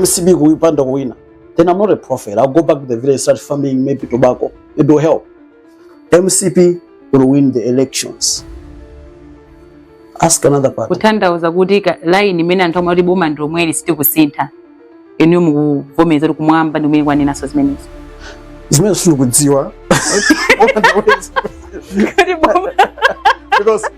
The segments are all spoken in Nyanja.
mcp ikapanda kuwina then i'm not a prophet i'll go back to the village start farming maybe tobacco it will help mcp will win the elections ask another part kutanthauza kuti ka- line imene anthu amati boma ndi lomweli sitikusintha inu mukuvomereza kuti kumwamba ndi kumene kwanenaso zimenezo zimene sindikudziwa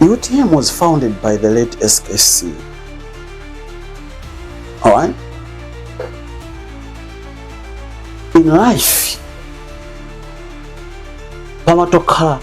UTM was founded by the late SKC. Alright? In life, pamatokhala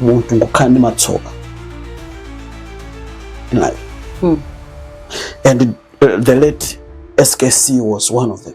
munthu ngokhala ndi matsoka in life hmm. and uh, the late skc was one of them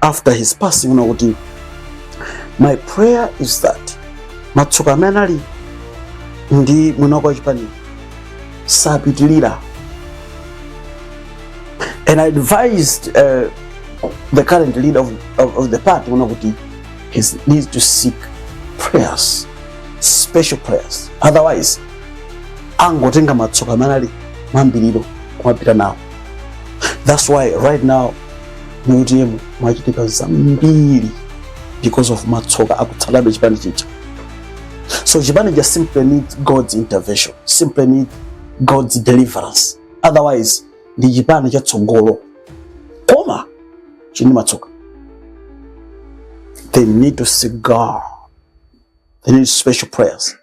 after his passing kunena kuti my prayer is that matsoka amene anali ndi mwini wake chipani sapitilira and i advised uh, the current leader of, of, of the party kunena kuti he needs to seek prayers special prayers otherwise angotenga matsoka amene anali mmayambiriro kumapita nawo that's why right now mu utm mwachitika zambiri because of matsoka akutsatabe chipani chija so chipani chija simply needs god's intervention simply needs god's deliverance otherwise ndi chipani cha tsogolo koma chili ndi matsoka they need to seek god they need special prayers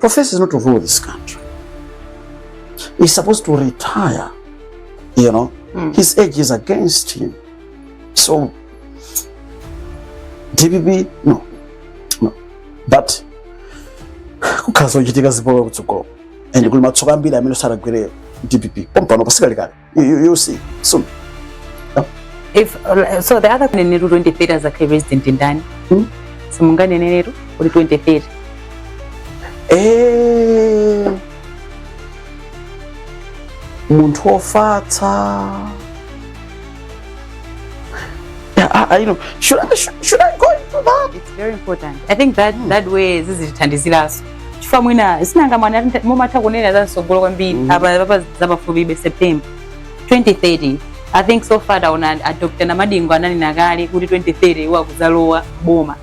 Professor is not to rule this country. He's supposed to retire. You know, mm. his age is against him. So, DPP, no, no. But, kukazochitika zipolo kutsogolo and kuli matsoka ambiri amene saragwere dpp pompano pasikali kale You, you, you'll see soon. if uh, so the other nenetu 2030 azakhe resident ndani Hmm? simunganenenetu kuti 2030 Eh, munthu wofatsa Yeah, I, I know. Should I, should, should I go into that? it's very important i think that that way zizitithandiziraso chifukwa mwina sinanga mwati mumatha kunena za mtsogolo kwambiri Mhm. apapa za pafupibe september 2030 i think so far taona a dr namadingo ananena kale kuti 2030 iwo akuzalowa boma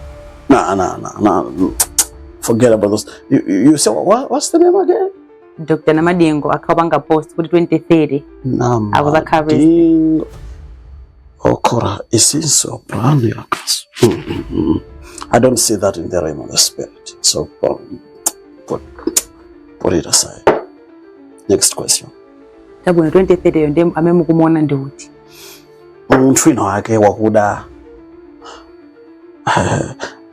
Nah, nah, nah, nah. Forget about those. You, you you say what, what's the name again? dr namadingo anapanga post kuti 2030 Akuzakhala president. Namadingo. Okora, it seems so brand new. I don't see that in the realm of the spirit. So um, put, put it aside. Next question. Tabwino 2030 yo ndem amemu kumuona ndi uti? Munthu wina wake wakuda